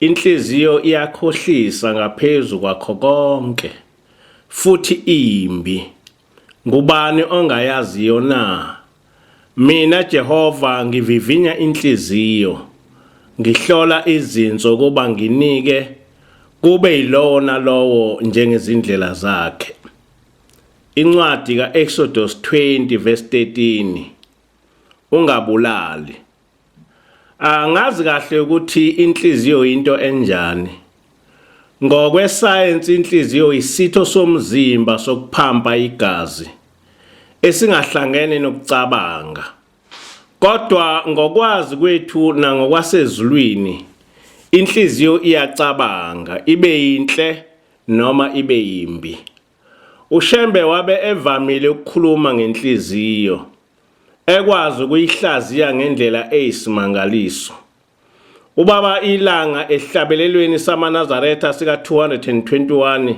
Inhliziyo iyakhohlisa ngaphezu kwakho konke, futhi imbi. Ngubani ongayaziyo na? Mina Jehova ngivivinya inhliziyo, ngihlola izinso kuba nginike kube yilowo nalowo njengezindlela zakhe. Incwadi ka-Exodus 20 verse 13 Ungabulali. Angazi kahle ukuthi inhliziyo into enjani. Ngokwesayensi inhliziyo isitho somzimba sokuphampa igazi esingahlangene nokucabanga. Kodwa ngokwazi kwethu nangokwasezulwini inhliziyo iyacabanga ibe yinhle noma ibe yimbi. UShembe wabe evamile ukukhuluma ngenhliziyo, ekwazi ukuyihlaziya ngendlela eyisimangaliso. Ubaba ilanga esihlabelelweni samaNazaretha sika-221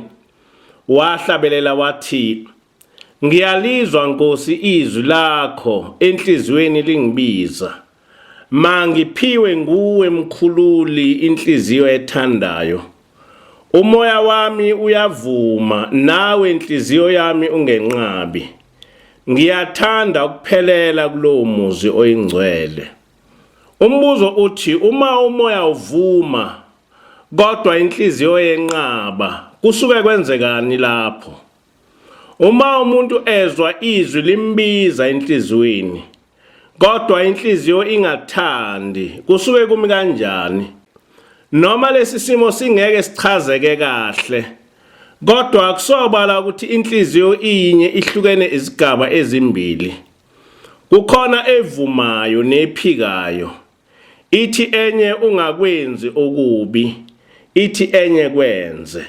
wahlabelela wathi, Ngiyalizwa Nkosi izwi lakho enhliziyweni lingibiza. Mangiphiwe nguwe mkhululi inhliziyo ethandayo. Umoya wami uyavuma nawe inhliziyo yami ungenqabi. Ngiyathanda ukuphelela kulowo muzi oyingcwele. Umbuzo uthi uma umoya uvuma kodwa inhliziyo yenqaba kusuke kwenzekani lapho? Uma umuntu ezwa izwi limbiza enhliziyweni kodwa inhliziyo ingathandi kusuke kumi kanjani noma lesi simo singeke sichazeke kahle kodwa akusobala ukuthi inhliziyo iyinye ihlukene izigaba ezimbili kukhona evumayo nephikayo ithi enye ungakwenzi okubi ithi enye kwenze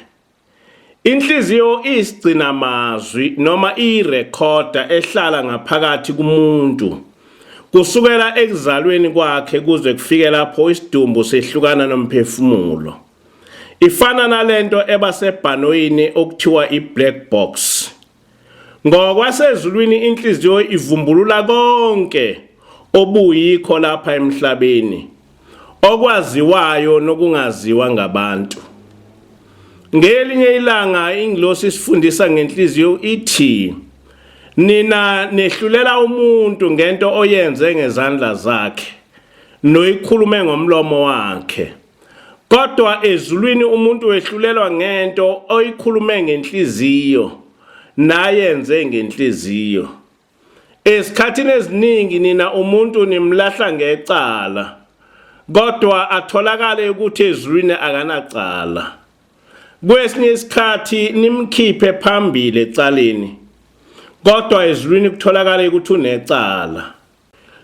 Inhliziyo iyisigcina mazwi noma iyirekhoda ehlala ngaphakathi kumuntu. Kusukela ekuzalweni kwakhe kuze kufike lapho isidumbu sehlukana nomphefumulo. Ifana nalento eba sebhanoyini okuthiwa i-black box. Ngokwasezulwini inhliziyo ivumbulula konke obuyikho lapha emhlabeni okwaziwayo nokungaziwa ngabantu. Ngelinye ilanga ingilosi isifundisa ngenhliziyo ithi nina nehlulela umuntu ngento oyenze ngezandla zakhe noyikhulume ngomlomo wakhe. Kodwa ezulwini umuntu wehlulelwa ngento oyikhulume ngenhliziyo nayenze ngenhliziyo. Esikhathini eziningi nina umuntu nimlahla ngecala kodwa atholakale ukuthi ezulwini akanacala. Kwesinye isikhathi nimkhiphe phambili ecaleni kodwa ezulwini kutholakale ukuthi unecala.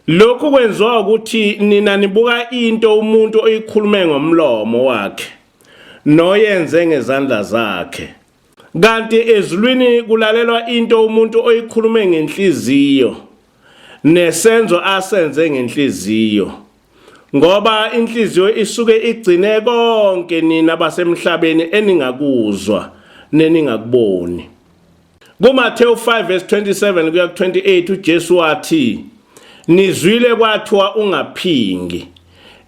Lokhu kwenziwa ukuthi nina nibuka into umuntu oyikhulume ngomlomo wakhe noyenze ngezandla zakhe. Kanti ezulwini kulalelwa into umuntu oyikhulume ngenhliziyo nesenzo asenze ngenhliziyo. ngoba inhliziyo isuke igcine konke nina basemhlabeni eningakuzwa neningakuboni kuMathewu 5 verse 27 kuya ku 28 uJesu wathi nizwile kwathiwa ungaphingi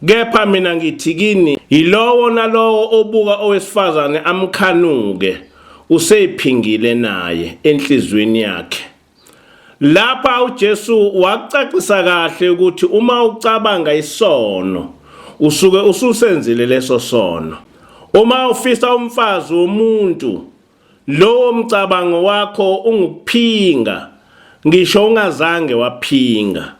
kepha mina ngithi kini yilowo nalowo obuka owesifazane amkhanuke useyiphingile naye enhlizweni yakhe Lapha uJesu wakucacisa kahle ukuthi uma ucabanga isono usuke ususenzile leso sono. Uma ufisa umfazi womuntu lowo mcabango wakho ungukuphinga ngisho ungazange waphinga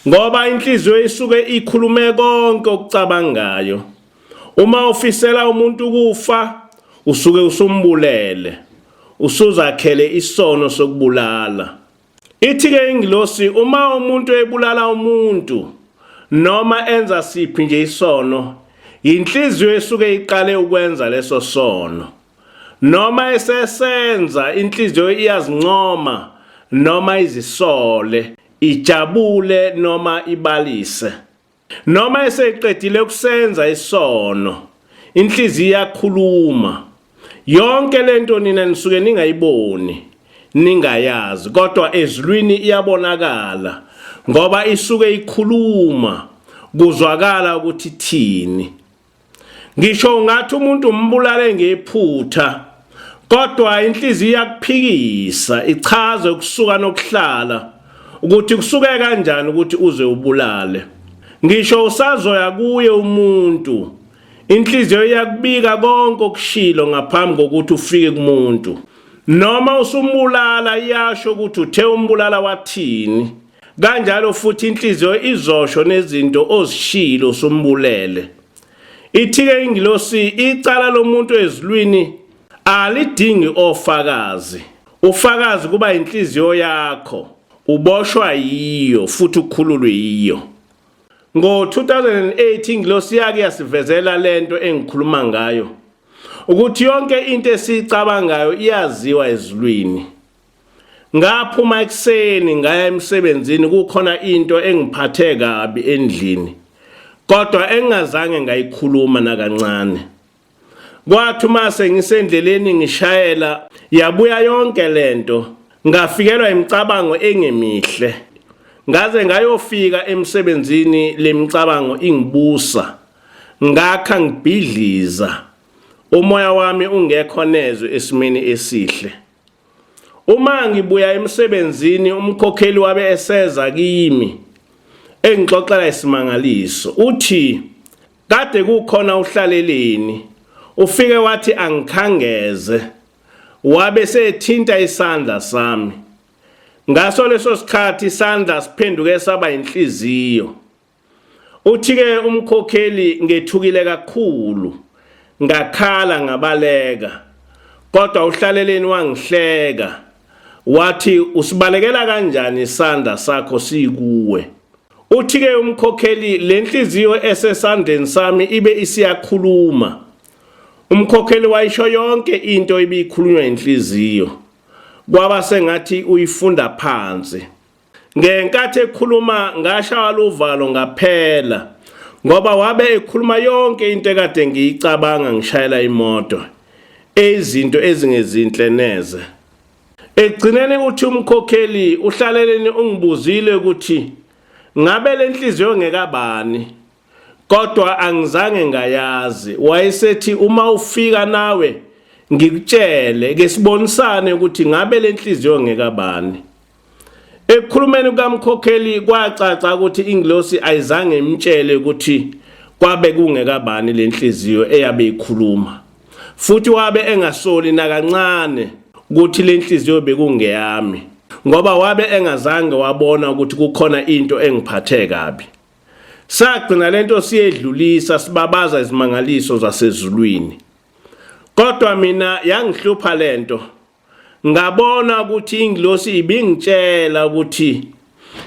ngoba inhliziyo isuke ikhulume konke okucabangayo. Uma ufisela umuntu ukufa usuke usumbulele usuzakhele isono sokubulala ithi ke ingilosi uma umuntu ebulala umuntu noma enza siphi nje isono yinhliziyo esuke iqale ukwenza leso sono noma esesenza inhliziyo iyazincoma noma izisole ijabule noma ibalise Noma eseqedile ukusenza isono, inhliziyo iyakhuluma. Yonke lento nina nisuke ningayiboni, ningayazi, kodwa ezulwini iyabonakala ngoba isuke ikhuluma kuzwakala ukuthi thini. ngisho ungathi umuntu umbulale ngephutha kodwa inhliziyo iyakuphikisa ichaze ukusuka nokuhlala ukuthi kusuke kanjani ukuthi uze ubulale ngisho usazoya kuye umuntu inhliziyo iyakubika konke okushilo ngaphambi kokuthi ufike kumuntu noma usumbulala iyasho ukuthi uthe umbulala wathini kanjalo futhi inhliziyo izosho nezinto ozishilo sumbulele ithike ingilosi icala lomuntu ezulwini alidingi ofakazi ufakazi kuba inhliziyo yakho uboshwa yiyo futhi ukhululwe yiyo ngo-2008 ingilosi yake yasivezela lento engikhuluma ngayo ukuthi yonke into esiyicabangayo iyaziwa ezulwini ngaphuma ekuseni ngaya emsebenzini kukhona into engiphathe kabi endlini kodwa engingazange ngayikhuluma nakancane kwathi uma sengisendleleni ngishayela yabuya yonke lento ngafikelwa imicabango engemihle ngaze ngayofika emsebenzini lemicabango ingibusa ngakha ngibhidliza umoya wami ungekho nezwe esimeni esihle Uma ngibuya emsebenzini umkhokheli wabe eseza kimi engixoxela isimangaliso uthi kade kukhona uhlaleleni ufike wathi angikhangeze wabe sethinta isandla sami ngaso leso sikhathi isandla siphenduke saba inhliziyo Uthi-ke umkhokheli ngethukile kakhulu ngakhala ngabaleka kodwa uhlaleleni wangihleka wathi usibalekela kanjani isandla sakho sikuwe uthi-ke umkhokheli le nhliziyo esesandleni sami ibe isiyakhuluma umkhokheli wayisho yonke into ibiyikhulunywa inhliziyo kwaba sengathi uyifunda phansi Ngenkathi ekhuluma ngashawa luvalo ngaphela ngoba wabe ekhuluma yonke into ekade ngiyicabanga ngishayela imoto eyizinto ezingezinhle neze ekugcineni uthi umkhokheli uhlaleleni ungibuzile ukuthi ngabe lenhliziyo ngekabani kodwa angizange ngayazi wayesethi uma ufika nawe ngikutshele ke sibonisane ukuthi ngabe lenhliziyo ngekabani Ekukhulumeni kukamkhokheli kwacaca ukuthi ingilosi ayizange imtshele ukuthi kwabe kungekabani lenhliziyo eyabe ikhuluma futhi wabe engasoli nakancane ukuthi lenhliziyo bekungeyami ngoba wabe engazange wabona ukuthi kukhona into engiphathe kabi sagcina lento siyedlulisa sibabaza izimangaliso zasezulwini kodwa mina yangihlupha lento ngabona ukuthi ingilosi ibingitshela ukuthi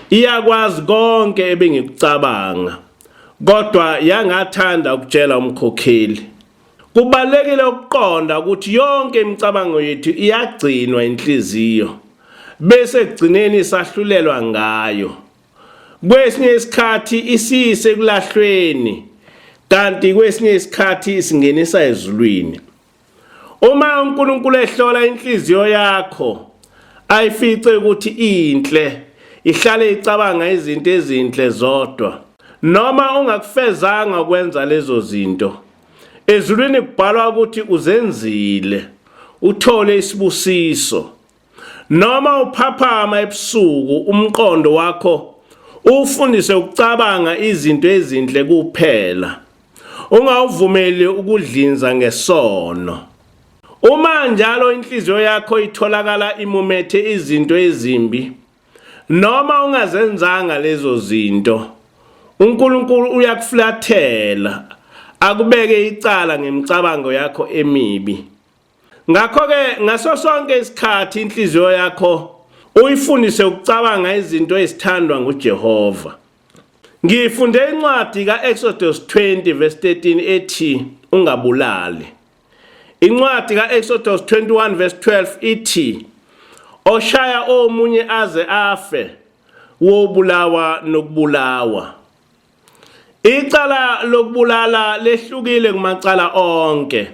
iyakwazi konke ebengikucabanga kodwa yangathanda ukutshela umkhokheli kubalekile ukuqonda ukuthi yonke imicabango yethu iyagcinwa inhliziyo bese kugcineni sahlulelwa ngayo kwesinye isikhathi isise kulahlweni kanti kwesinye isikhathi singenisa ezulwini Uma uNkulunkulu ehlola inhliziyo yakho ayifice ukuthi inhle ihlale icabanga izinto ezinhle zodwa noma ungakufezanga ukwenza lezo zinto ezulwini kubhalwa ukuthi uzenzile uthole isibusiso Noma uphaphama ebusuku umqondo wakho ufundise ukucabanga izinto ezinhle kuphela. Ungawuvumeli ukudlinza ngesono. Uma njalo inhliziyo yakho itholakala imumethe izinto ezimbi noma ungazenzanga lezo zinto uNkulunkulu uyakuflathela akubeke icala ngemicabango yakho emibi. Ngakho-ke ngaso sonke isikhathi inhliziyo yakho uyifundise ukucabanga izinto ezithandwa nguJehova. Ngifunde incwadi ka-Exodus 20 verse 13 ethi ungabulali. Incwadi ka-Exodus 21 verse 12 ithi oshaya omunye aze afe wobulawa nokubulawa. Icala lokubulala lehlukile kumacala onke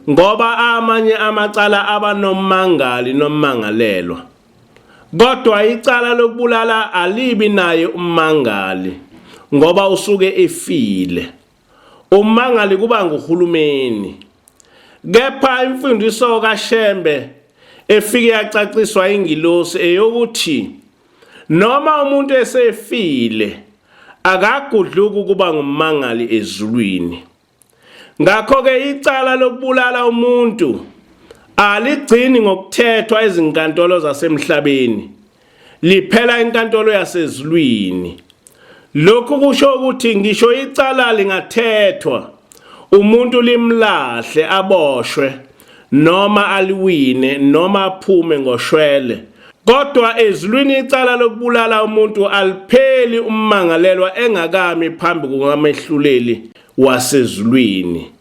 ngoba amanye amacala aba nommangali nommangalelwa. Kodwa icala lokubulala alibi naye ummangali ngoba usuke efile. Ummangali kuba nguhulumeni. Kepha imfundiso kaShembe efike yacaciswa ingilosi eyokuthi Noma umuntu esefile akagudluki ukuba ngummangali ezulwini. Ngakho-ke icala lokubulala umuntu aligcini ngokuthethwa ezinkantolo zasemhlabeni, liphela enkantolo yasezulwini. Lokhu kusho ukuthi ngisho icala lingathethwa umuntu limlahle aboshwe noma aliwine noma aphume ngoshwele kodwa ezulwini icala lokubulala umuntu alipheli ummangalelwa engakami phambi kukamehluleli wasezulwini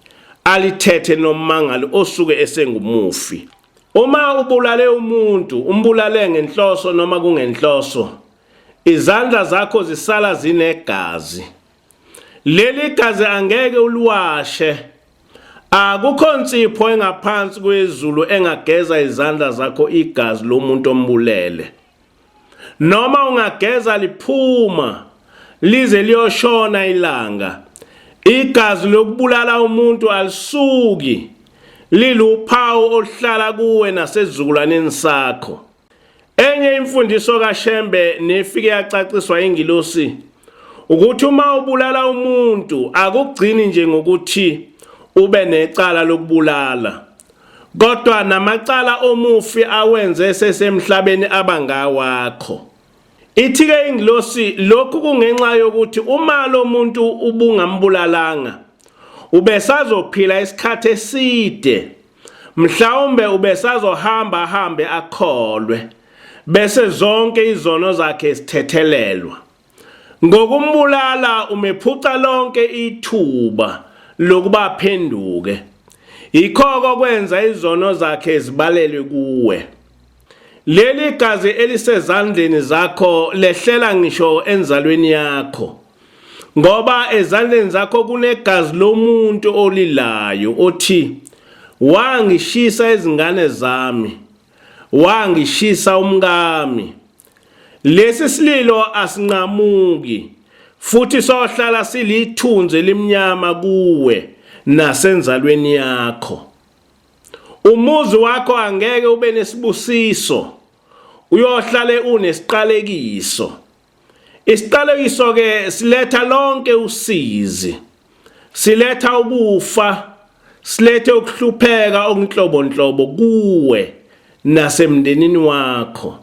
alithethe nommangali osuke esengumufi uma ubulale umuntu umbulale ngenhloso noma kungenhloso izandla zakho zisala zinegazi leli gazi angeke uliwashe akukho nsipho engaphansi kwezulu engageza izandla zakho igazi lomuntu ombulele noma ungageza liphuma lize liyoshona ilanga igazi lokubulala umuntu alisuki liluphawu oluhlala kuwe nasezizukulwaneni sakho Enye imfundiso kaShembe nefike yacaciswa ingilosi ukuthi uma ubulala umuntu akugcini nje ngokuthi ube necala lokubulala kodwa namacala omufi awenze sesemhlabeni abangawakho ithike ingilosi lokhu kungenxa yokuthi uma lomuntu ubungambulalanga ubesazophila isikhathi eside Mhlawumbe ubesazohamba ahambe akholwe bese zonke izono zakhe sithethelelwa. Ngokumbulala umephuca lonke ithuba lokuba aphenduke. Yikho kokwenza izono zakhe zibalelwe kuwe. Leli gazi elisezandleni zakho lehlela ngisho enzalweni yakho. ngoba ezandleni zakho kunegazi lomuntu olilayo othi wangishisa izingane zami wangishisa umkami lesi sililo asinqamuki futhi sohlala silithunzi elimnyama kuwe nasenzalweni yakho umuzi wakho angeke ube nesibusiso uyohlale unesiqalekiso Isiqalekiso ke siletha lonke usizi siletha ukufa silethe ukuhlupheka okunhlobonhlobo kuwe nasemndenini wakho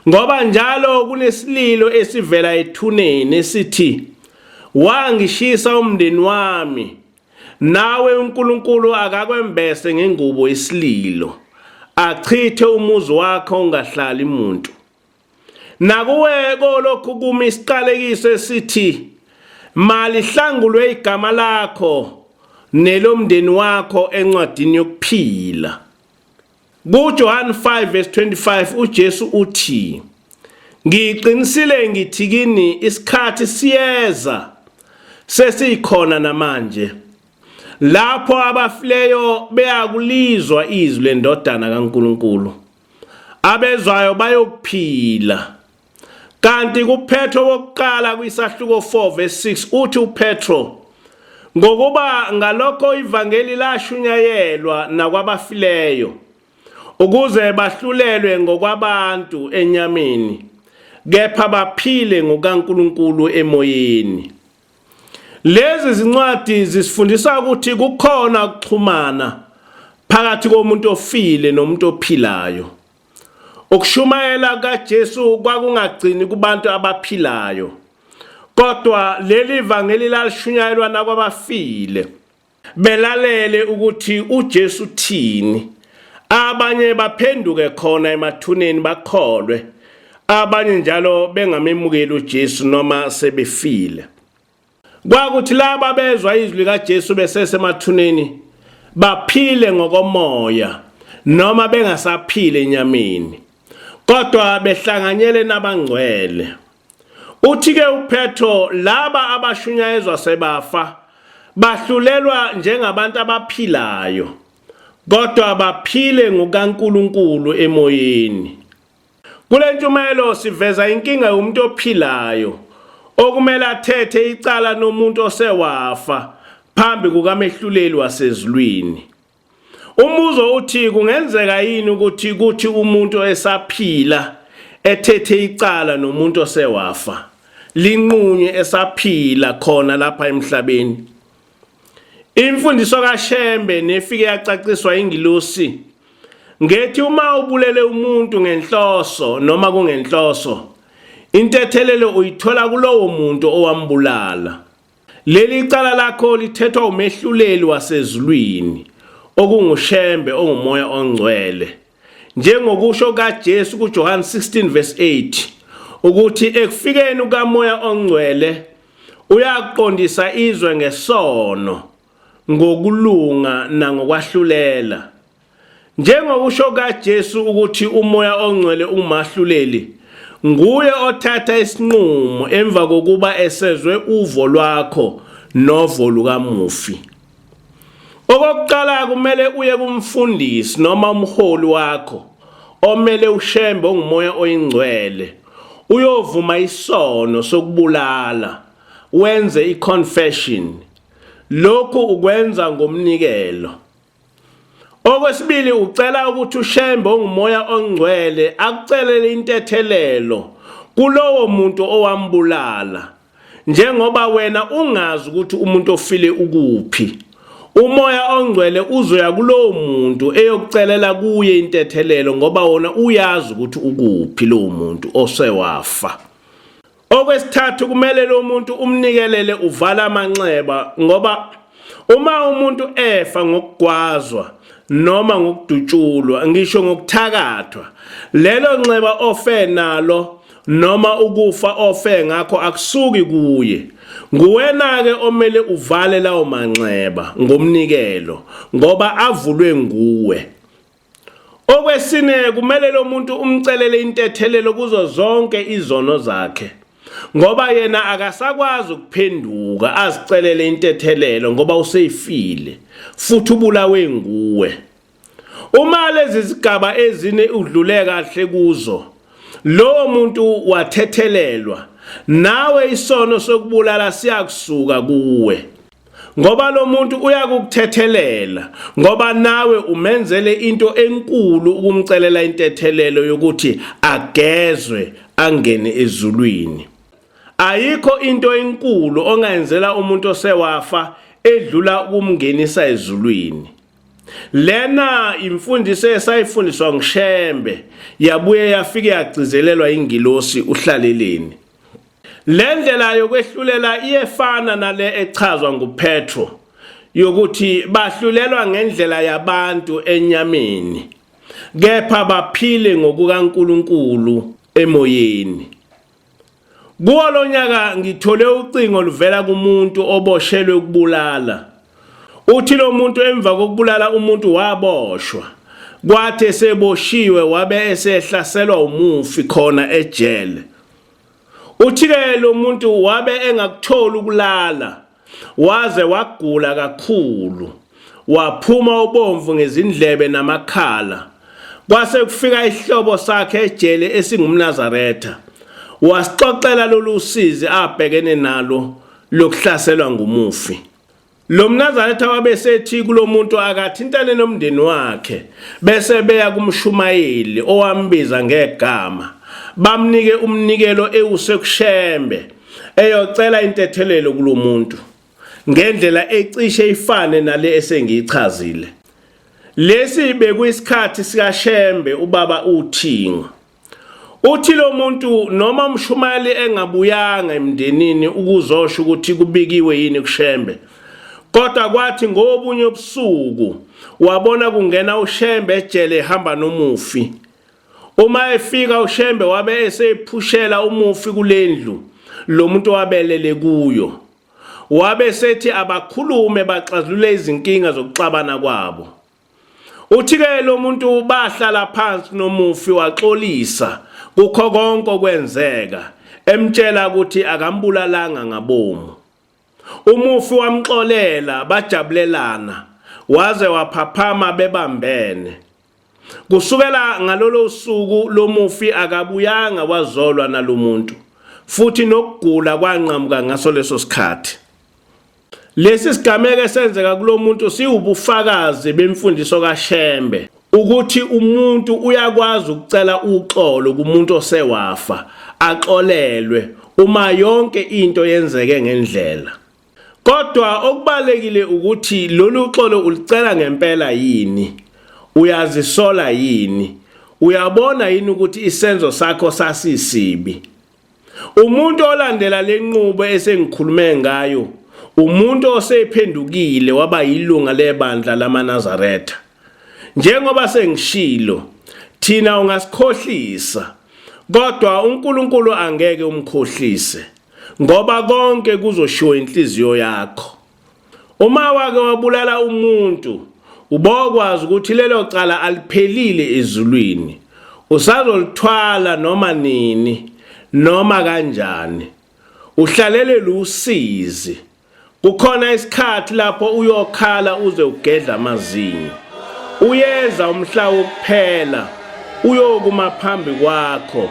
ngoba njalo kunesililo esivela ethuneni sithi wangishisa umndeni wami nawe uNkulunkulu akakwembese ngengubo isililo achithe umuzi wakho ungahlali muntu Nakuwe kolokhu kumi isiqalekiso esithi malihlangulwe igama lakho nelomndeni wakho encwadini yokuphila. KuJohane 5 verse 25 uJesu uthi Ngiqinisile ngithi kini isikhathi siyeza sesikhona namanje lapho abafileyo beyakulizwa izwi lendodana kaNkuluNkulu abezwayo bayokuphila. Kanti kuPetro wokuqala kwisahluko 4 verse 6 uthi uPetro ngokuba ngalokho ivangeli lashunyayelwa nakwabafileyo ukuze bahlulelwe ngokwabantu enyameni kepha baphile ngokaNkuluNkulu emoyeni. Lezi zincwadi zisifundisa ukuthi kukhona ukuxhumana phakathi komuntu ofile nomuntu ophilayo. Ukushumayela kaJesu kwakungagcini kubantu abaphilayo, kodwa leli vangeli lalishunyayelwa nakwabafile. belalele ukuthi uJesu uthini abanye baphenduke khona emathuneni bakholwe abanye njalo bengamemukeli uJesu noma sebefile kwakuthi laba bezwa izwi likaJesu besesemathuneni baphile ngokomoya noma bengasaphile enyameni kodwa behlanganyele nabangcwele Uthi-ke uPetro laba abashunyayezwa sebafa bahlulelwa njengabantu abaphilayo kodwa baphile ngokaNkulunkulu emoyeni. Kule ntshumayelo siveza inkinga yomuntu ophilayo okumele athethe icala nomuntu osewafa phambi kukamehluleli wasezulwini. Umbuzo uthi kungenzeka yini ukuthi kuthi umuntu esaphila ethethe icala nomuntu osewafa linqunywe esaphila khona lapha emhlabeni. Imfundiso kaShembe nefike yacaciswa ingilosi ngethi uma ubulele umuntu ngenhloso noma kungenhloso intethelelo uyithola kulowo muntu owambulala. Leli cala lakho lithethwa umehluleli wasezulwini okunguShembe ongumoya ongcwele. Njengokusho kaJesu kuJohane 16 verse 8 ukuthi ekufikeni kukamoya ongcwele uyaqondisa izwe ngesono ngokulunga nangokwahlulela Njengokusho kaJesu ukuthi umoya ongcwele ungumahluleli, nguye othatha isinqumo emva kokuba esezwe uvo lwakho novo lukamufi. Okokuqala kumele uye kumfundisi noma umholi wakho omele ushembe ongumoya oyingcwele uyovuma isono sokubulala wenze iconfession lokhu ukwenza ngomnikelo Okwesibili ucela ukuthi uShembe ongumoya ongcwele akucelele intethelelo kulowo muntu owambulala njengoba wena ungazi ukuthi umuntu ofile ukuphi umoya ongcwele uzoya kulowo muntu eyokucelela kuye intethelelo ngoba wona uyazi ukuthi ukuphi lowo muntu osewafa Okwesithathu kumele lo muntu umnikelele uvala amanxeba ngoba uma umuntu efa ngokugwazwa noma ngokudutshulwa ngisho ngokuthakathwa lelo nxeba ofe nalo noma ukufa ofe ngakho akusuki kuye nguwena ke omele uvale lawo manxeba ngomnikelo ngoba avulwe nguwe Okwesine kumele lo muntu umcelele intethelelo kuzo zonke izono zakhe ngoba yena akasakwazi ukuphenduka azicelele intethelelo ngoba useyifile futhi ubulawe nguwe. Uma lezi zigaba ezine udlule kahle kuzo lowo muntu wathethelelwa nawe isono sokubulala siyakusuka kuwe. ngoba lo muntu uyakukuthethelela ngoba nawe umenzele into enkulu ukumcelela intethelelo yokuthi agezwe angene ezulwini ayikho into enkulu ongayenzela umuntu osewafa edlula ukumngenisa ezulwini lena imfundiso esayifundiswa ngishembe yabuye yafike yagcizelelwa ingilosi uhlaleleni Le ndlela yokwehlulela iyefana nale echazwa nguPetro yokuthi bahlulelwa ngendlela yabantu enyameni kepha baphile ngokukaNkuluNkulu emoyeni. Kuwo lonyaka ngithole ucingo oluvela kumuntu oboshelwe ukubulala. Uthi lo muntu emva kokubulala umuntu waboshwa kwathi eseboshiwe wabe esehlaselwa umufi khona ejele. Uthi-ke lo muntu wabe engakutholi ukulala waze wagula kakhulu waphuma ubomvu ngezindlebe namakhala kwase kufika isihlobo sakhe ejele esingumnazaretha wasixoxela lolu sizi abhekene nalo lokuhlaselwa ngumufi. Lo mnazaretha wabesethi kulo muntu akathintane nomndeni wakhe bese beya kumshumayeli owambiza ngegama bamnike umnikelo ewusekushembe eyocela intethelelo kulo muntu ngendlela ecishe ifane nale esengiyichazile. Lesi bekuyisikhathi sikaShembe ubaba uThingo. Uthi lo muntu noma umshumayeli engabuyanga emndenini ukuzosho ukuthi kubikiwe yini kuShembe. Kodwa kwathi ngobunye ubusuku wabona kungena uShembe ejele ehamba nomufi. Uma efika uShembe wabe esephushela umufi kulendlu lo muntu wabelele kuyo. Wabe sethi abakhulume baxazulule izinkinga zokuxabana kwabo. Uthi ke lo muntu bahlala phansi nomufi waxolisa kukho konke okwenzeka emtshela ukuthi akambulalanga ngabomu. Umufi wamxolela bajabulelana waze waphaphama bebambene. Kusukela ngalolo suku lomufi akabuyanga wazolwa nalomuntu futhi nokugula kwanqamuka ngaso leso sikhathi. Lesi sigameko esenzeka kulomuntu siwubufakazi bemfundiso kaShembe ukuthi umuntu uyakwazi ukucela uxolo kumuntu osewafa axolelwe uma yonke into yenzeke ngendlela kodwa okubalekile ukuthi lolu xolo ulicela ngempela yini uyazisola yini uyabona yini ukuthi isenzo sakho sasisibi Umuntu olandela lenqubo esengikhulume ngayo umuntu osephendukile waba yilunga lebandla lamaNazaretha. Njengoba sengishilo, thina ungasikhohlisa kodwa uNkulunkulu angeke umkhohlise ngoba konke kuzoshiwo inhliziyo yakho. Uma wake wabulala umuntu ubokwazi ukuthi lelo cala aliphelile ezulwini usazolithwala noma nini noma kanjani uhlalelele usizi kukhona isikhathi lapho uyokhala uze ugedla amazinyo uyeza umhla wokuphela uyokuma phambi kwakho